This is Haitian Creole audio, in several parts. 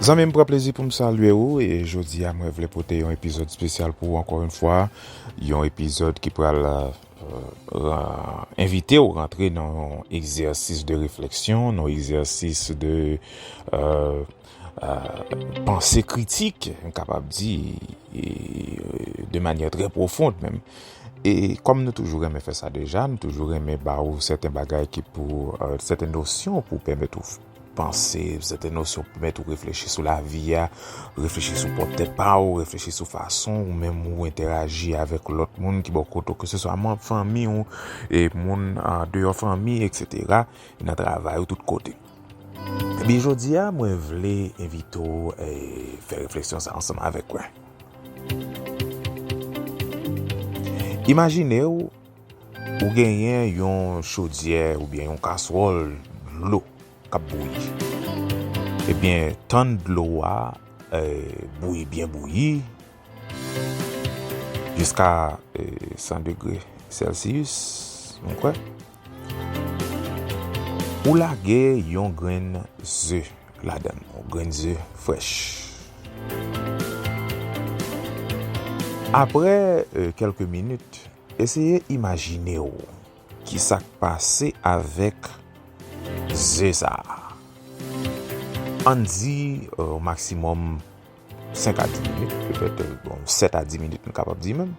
Zanmi m pran plezi pou m salye ou e jodi a mwen vle pote yon epizòd spesyal pou ou ankò yon fwa, yon epizòd ki pral envite ou rantre nan yon egzèsis de refleksyon, nan yon egzèsis de... panse kritik, m kapab di, e de manyè trè pwofond menm. E kòm nou toujou renmen fè sa deja, nou toujou renmen ba ou sèten bagay ki pou, sèten nosyon pou pèmèt ou panse, sèten nosyon pou pèmèt ou reflechi sou lavi a, reflechi sou pwòp tèt pa ou, reflechi sou fason ou menm ou entèraji avèk lòt moun ki bò kote ou, ke se swa manm fanmi ou, e moun deyò fanmi, et sètera, nan travay ou tout kote. Ebyen jodia mwen vle envite w fè refleksyon sa ansanm avèk mwen. Imajine w ou genyen yon chodyè oubyen yon kaswòl dlo kap bouyi. Ebyen tann dlo a bouyi byen bouyi jiska 100 degre sèlsiyis mwen kwè. Ou lage yon grenn ze ladan l, yon grenn ze frèch. Aprè kèlke minit, eseye imajine w ki sa k pase avèk ze sa a. An n di maksimòm 5 a 10 minit petèt, bon 7 a 10 minit m kapab di menm.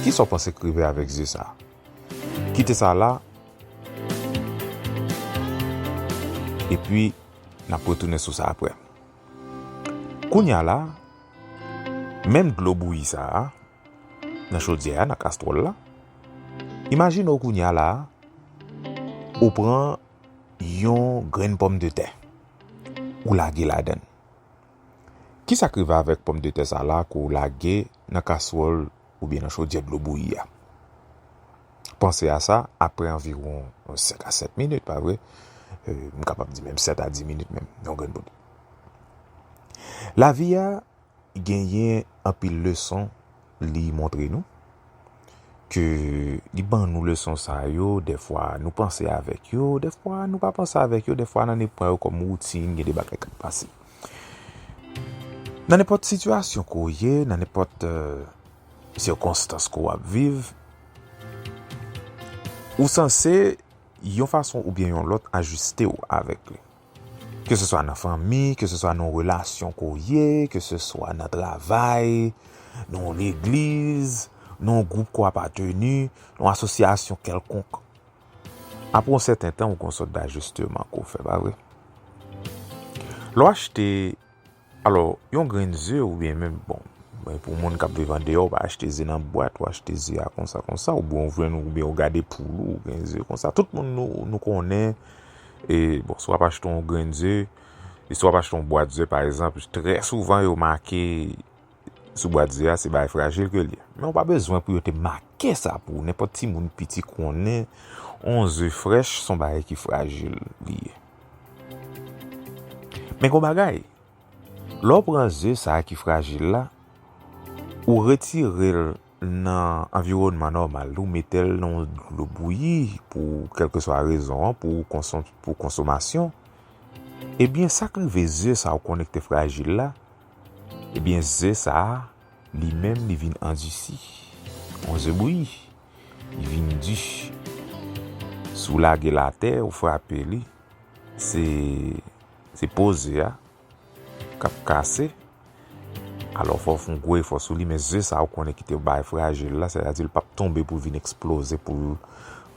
Ki sa w panse k rive avèk ze sa a? Kite sa la epi n ap retounen sou sa aprè. Kounye a la, menm dlo bouyi sa a nan chodyè a, nan kastwòl la, imajine w kounye a la ou pran yon grenn pòmdetè ou lage ladan l. Kisa k rive avèk pòmdetè sa la ke w lage nan kaswòl oubyen nan chodyè dlo bouyi a? Panse a sa aprè anviwon 5 a 7 minit pa vre? M kapab di menm 7 a 10 minit menm yon grenn bout. Lavi a genyen anpil leson Li montre nou ke li ban nou leson sa yo, dèfwa nou panse avèk yo, dèfwa nou pa panse avèk yo, dèfwa nan ne pran yo kòm woutin, gen de bagay kap pase. Nan nenpòt sitiyasyon ke w ye, nan nenpòt sikonstans ke w ap viv, ou sanse yon fason oubyen yon lòt ajiste w avèk li. Ke se swa nan fanmi, ke se swa nan relasyon ke w ye, ke se swa nan travay, nan yon legliz, nan yon gwoup ke w apateni, nan yon asosyasyon kèlkonk. Apre yon sèten tan, ou gen yon sòt dajisteman ke w fè, pa vre? Lè w achte Alò, yon grenn ze oubyen menm bon, men pou moun k ap viv andeyò, ou pa achte ze nan bwat, ou achte ze a konsa konsa, oubyen ou jwenn oubyen ou gade poul ou gen ze konsa. Tout moun nou konnen, e bon, si w ap achte yon grenn ze, e si w ap achte yon bwat ze pa egzanp, trè souvan yo make sou bwat ze a se bay frajil ke li ye. Men ou pa bezwen pou yo te make sa pou ou, nenpòt timoun piti konnen yon ze frèch se yon bagay ki frajil li ye. Men gon bagay, lè w pran ze sa ki frajil la, ou retire l nan anviwònman nòmal li, ou mete l nan dlo bouyi pou kèlkeswa rezon an, pou konsomasyon, ebyen sa k rive ze sa ou konnen ki te frajil la, ebyen ze sa li menm li vin andisi, on ze bouyi. Li vin di. Si w lage l atè, ou frape li, se po ze a k ap kase. Alò, fò w fè yon gwo efò sou li, men ze sa ou konnen ki te bay frajil la, sètadi l p ap tonbe pou l vin eksploze, pou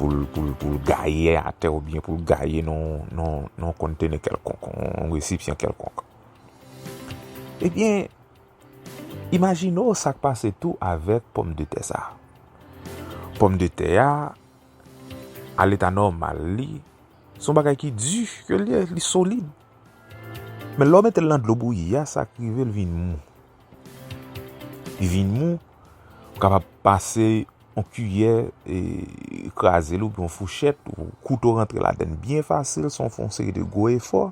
l gaye atè oubyen pou l gaye nan yon kontene kèlkonk, yon resipyan kèlkonk. Ebyen. Imajine w sa k pase tou avèk pòmdetè sa a. Pòmdetè a, a leta nòmal li, se yon bagay ki di, ke l ye, li solid. Men lè w mete l nan dlo bouyi a, sa k rive l vin mou. Li vin mou, ou kapab pase yon kiyè kraze l oubyen yon fouchèt, yon kouto rantre ladann byen fasil san w fè yon seri de gwo efò.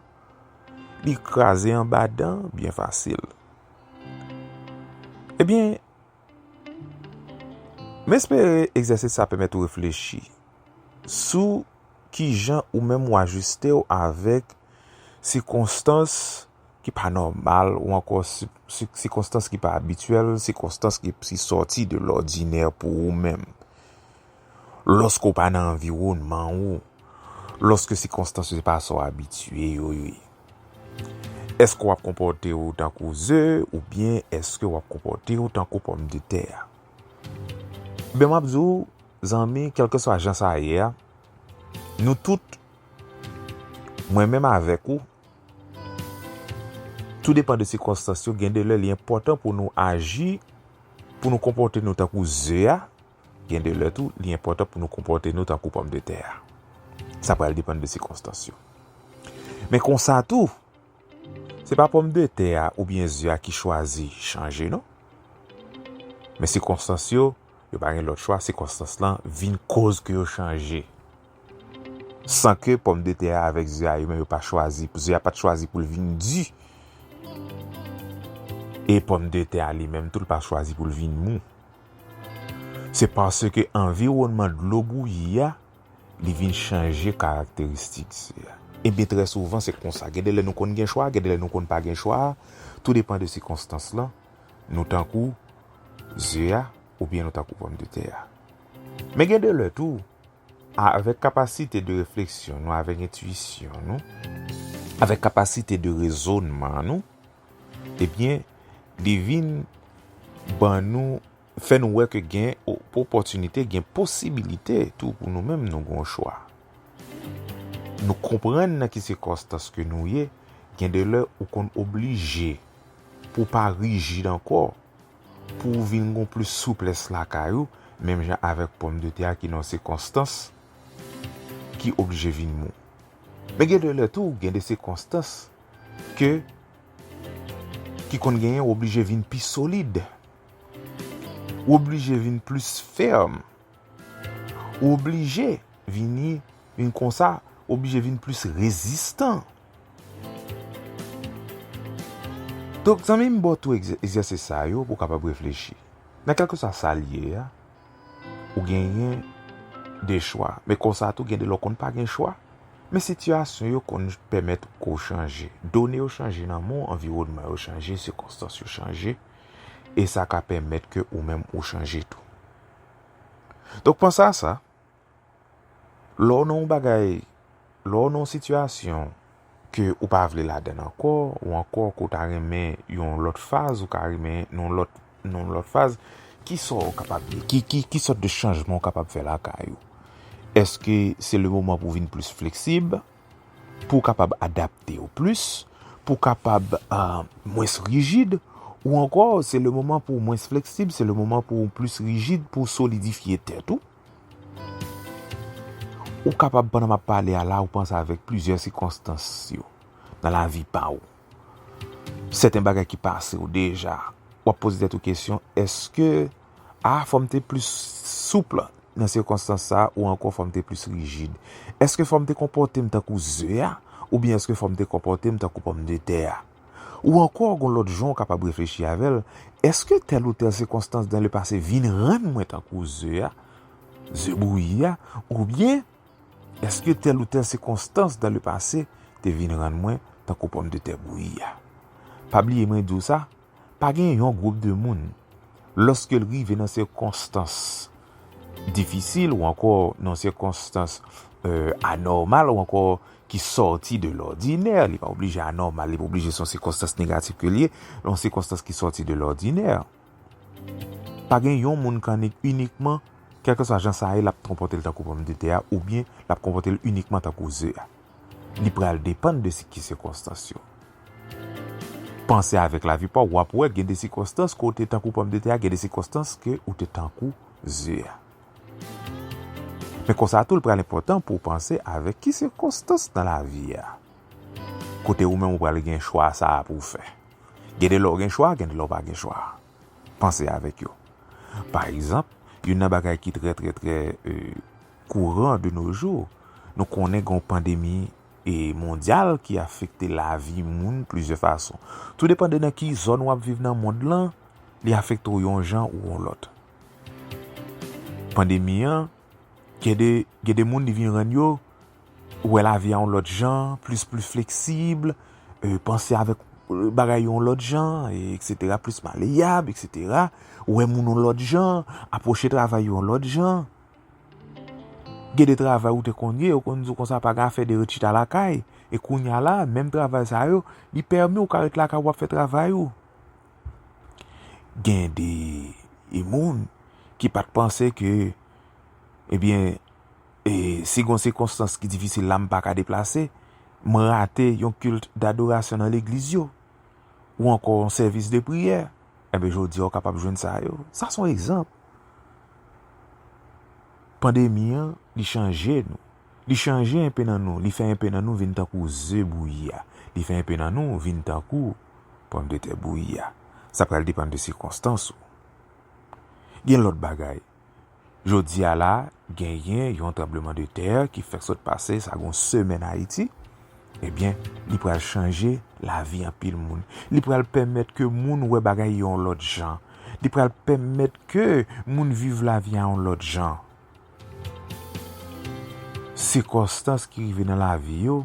Li kraze anba dan byen fasil. Ebyen, m espere egzèsis sa pèmèt ou reflechi sou ki jan ou menm ou ajiste ou avèk sikonstans ki pa nòmal ou ankò sikonstans ki pa abityèl, sikonstans ki sòti de lòdinè pou ou menm. Lòske ou pa nan anviwònman ou, lòske sikonstans yo se pa sa ou abitye yo ye, èske w ap konpòte ou tankou ze oubyen èske w ap konpòte ou tankou pòmdetè a? Enben, m ap di w, zanmi, kèlkeswa jan sa ye a, nou tout, mwen menm avèk ou, tou depan de sikonstans yo, gen de lè li enpòtan pou nou aji, pou nou konpòte nou tankou ze a, Gen de lè tou, li enpòtan pou nou konpòte nou tankou pòmdetè a. Sa pral depann de sikonstans yo. Men konsa tou, se pa pòmdetè a oubyen ze a ki chwazi chanje non. Men sikonstans yo, yo pa gen lòt chwa, sikonstans lan vin koz ke yo chanje. San ke pòmdetè a avèk ze a yo menm yo pa chwazi, ze a pa t chwazi pou l vin di. E pòmdetè a li menm tou l pa chwazi pou l vin mou. Se paske anviwònman dlo bouyi a, li vin chanje karakteristik di a. Ebyen trè souvan se konsa, gen de lè nou konn gen chwa, gen de lè nou konn pa gen chwa, tou depan de sikonstans lan, nou tankou ze a oubyen nou tankou pòmdetè a. Men gen de lè tou, avèk kapasite de refleksyon nou, avèk entwisyon nou, avèk kapasite de rezònman nou, Ebyen, li vin ban nou, fè nou wè ke gen opòtinite, gen posibilite tou pou nou menm nou gen yon chwa. Nou konprann nan ki sikonstans ke nou ye, gen de lè ou konn oblije pou w pa rijid ankò, pou w vin gen yon plis souplès lakay ou, menm jan avèk pòm de tè a ki nan yon sikonstans ki oblije vin mou. Men gen de lè tou, gen de sikonstans. ke ki konn genyen ou oblije vin pi solid ou oblije vin plis fèm ou oblije vini vin konsa ou oblije vin plis rezistan donk zanmi m ba w tou egzèsis sa yo pou w kapab reflechi nan kèlkeswa sa l ye a Ou genyen de chwa. Men konsa tou gen de lè w konn pa gen chwa. Men sitiyasyon yo konn pèmèt ke w chanje. Done yo chanje nan men w, anviwònman yo chanje, sikonstans yo chanje. E sa ka pèmèt ke ou menm ou chanje tou. Donk panse a sa. Lè w nan yon bagay, lè w nan yon sitiyasyon ke ou pa vle ladan l ankò, ou ankò ke w ta renmen yon lòt faz, ou ka renmen yon lòt, yon lòt faz, ki sa w kapab di? Ki, ki, ki sòt de chanjman w kapab fè lakay ou? Eske se le moman pou w vin plis fleksib, pou w kapab adapte w plis, pou w kapab mwens rijid, ou ankò se le moman pou w mwens fleksib, se le moman pou w plis rijid, pou w solidifye tèt ou? Ou kapab pandan map pale a la ou panse avèk plizyè sikonstans yo nan lavi pa ou. Sèten bagay ki pase ou deja. Wap poze tèt ou kesyon eske a fòm te plis souple nan sikonstans sa ou ankò fòm te plis rijid. Eske fòm te konpòtem tankou ze a oubyen eske fòm te konpòtem tankou pòm de tè a. Ou ankò gon lòt jan ou kapab reflechi avè l, Èske tèl ou tèl sikonstans dan le pase vin rann mwen tankou ze a, ze bouyi a? Oubyen, Èske tèl ou tèl sikonstans dan le pase te vin rann mwen tankou pòmdetè bouyi a? Pa bliye mwen di w sa, pa gen yon gwoup de moun, Lòske l rive nan sikonstans difisil ou ankò nan sikonstans anòmal ou ankò ki sòti de lòdinè, li pa oblije anòmal, li pa oblije se yon sikonstans negatif ke l ye, yon sikonstans ki sòti de lòdinè, pa gen yon moun ki annik inikman, kèlkeswa jan sa ye, l ap konpòte l tankou pòmdetè a oubyen l ap konpòte l inikman tankou ze a. Li pral depann de si ki sikonstans yo. Panse avèk lavi pa w, w ap wè gen de sikonstans ke w te tankou pòmdetè a, gen de sikonstans ke ou te tankou ze a. Men konsa tou li pral enpòtan pou w panse avèk ki sikonstans nan lavi a. Kote ou menm ou pral gen chwa sa a pou w fè. Gen de lè w gen chwa, gen de lè w pa gen chwa. panse avèk yo. Pa egzanp, youn nan bagay ki trè trè trè kouran de no jou, nou konnen gen yon pandemi mondyal ki afekte lavi moun plizyè fason. Tou depan de nan ki zòn wap viv nan mond lan, li afekte w yon jan ou yon lòt. Pandemi an. Gen de moun li vin rann yo wè lavi a yon lòt jan, plis plis fleksib, panse avèk bagay yo yon lòt jan, eksetera, plis maleyab, eksetera, wè moun yon lòt jan, apwoche travay yo yon lòt jan. Gen de travay ou te konn ye, yo konn di w konsa pa gen afè de ret chita lakay, e kounya la, menm travay sa yo, li pèmi w ka ret lakay w ap fè travay ou. Gen de moun ki pat panse ke ebyen e si gon sikonstans ki difisil la m pa ka deplase, m rate yon kilt dadorasyon nan legliz yo, ou ankò yon sèvis de priyè, enben jodi a ou kapab jwenn sa yo. Sa son egzanp. Pandemi an li chanje nou. Li chanje enpe nan nou. Li fè enpe nan nou vin tankou ze bouyi a. Li fè enpe nan nou vin tankou. Pòm de tè bouyi a. Sa pral depann de sikonstans ou. Gen lòt bagay. Jodi a la, genyen yon tranbleman de tè ki fèk sot pase sa gen yon semèn Ayiti. Ebyen, eh li pral chanje lavi anpil moun. Li pral pèmèt ke moun wè bagay yon lòt jan. Li pral pèmèt ke moun viv lavi a yon lòt jan. Sikonstans ki rive nan lavi yo,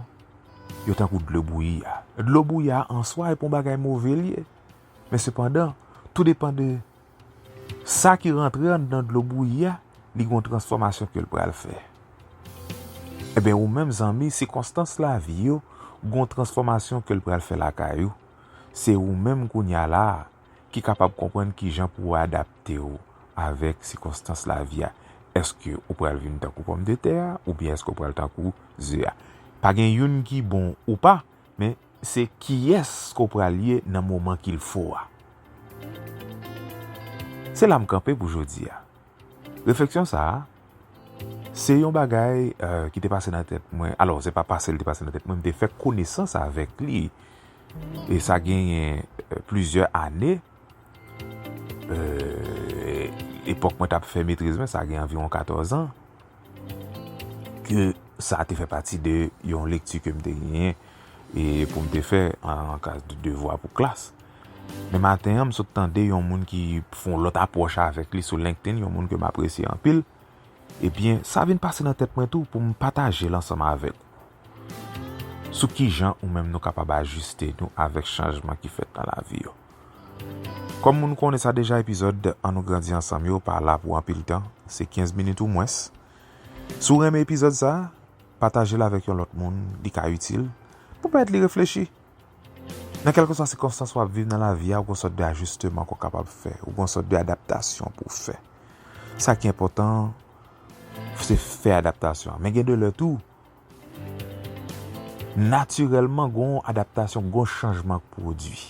yo tankou dlo bouyi a. Dlo bouyi a an swa e pa yon bagay move li ye. Men sepandan, tou depan de sa ki rantre anndan dlo bouyi a, li gen yon transfòmasyon ke l pral fè. Eben ou menm zanmi, sikonstans lavi yo, gen yon transfòmasyon ke l pral fè lakay ou. Se ou menm kounya la a. ki kapab konprann ki jan pou w adapte w avèk sikonstans lavi a. Èske ou pral vin tankou pòmdetè a oubyen èske ou pral tankou ze a? Pa gen youn ki bon ou pa, men se kiyès ke w pral ye nan moman ki l fo a. Se la m kanpe pou jodi a. Refleksyon sa a, se yon bagay ki te pase nan tèt mwen, alò se pa pase li te pase nan tèt mwen, m te fè konesans avèk li, e sa genyen plizyè ane, epòk mwen t ap fè metriz mwen, sa genyen anviwon 14 an, ke sa te fè pati de yon lekti ke m te genyen, e pou m te fè an klas de devwa pou klas. Men maten an, m sot tande yon moun ki fè yon lòt apwòch avèk li sou LinkedIn, yon moun ke m apresye anpil. Ebyen, sa vin pase nan tèt mwen tou pou m pataje l ansanm avèk ou. Sou ki jan ou menm nou kapab ajiste nou avèk chanjman ki fèt nan lavi yo. Kòm moun konnen sa deja epizòd An nou grandi ansanm yo pa la pou anpil tan, se 15 minit ou mwens. Si w renmen epizòd sa, pataje l avèk yon lòt moun, li ka itil, pou pèmèt li reflechi. Nan kèlkeswa sikonstans w ap viv nan lavi a, ou gon sòt de ajisteman ke w kapab fè, ou gon sòt de adaptasyon pou w fè. Sa ki enpòtan an, se fè adaptasyon an. Men gen de lè tou, natirèlman gon adaptasyon, gon chanjman k pwodui.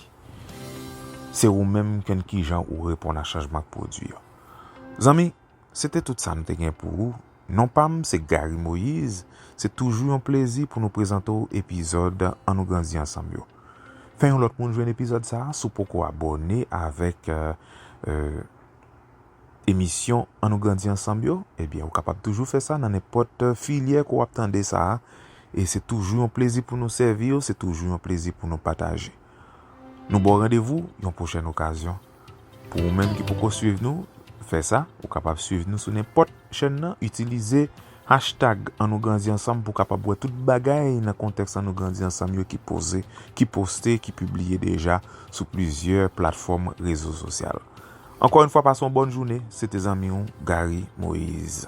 Se ou menm ki konn kijan ou reponn a chanjman k pwodui an. Zanmi! Se te tout sa m te gen pou ou. Non pa m se Garry Moïse, se toujou yon plezi pou nou prezante w epizòd An Nou Grandi Ansanm yo. Fè yon lòt moun jwenn epizòd sa si w poko abòne avèk emisyon An Nou Grandi Ansanm yo, ebyen ou kapab toujou fè sa nan nenpòt filyè ke w ap tande sa a. E se toujou yon plezi pou nou sèvi w, se toujou yon plezi pou nou pataje. Nou ba w randevou yon pwochèn okazyon. Pou ou menm ki poko swiv nou, fè sa, ou kapab swiv nou sou nenpòt chèn nan, itilize hashtag an nou grandi ansanm pou kapab wè tout bagay nan kontèks an nou grandi ansanm yo ki poze, ki poste, ki pibliye deja sou plizyè platfòm rezo sosyal. Ankò yon fwa pase yon bòn joune, se te zanmi ou Garry Moïse.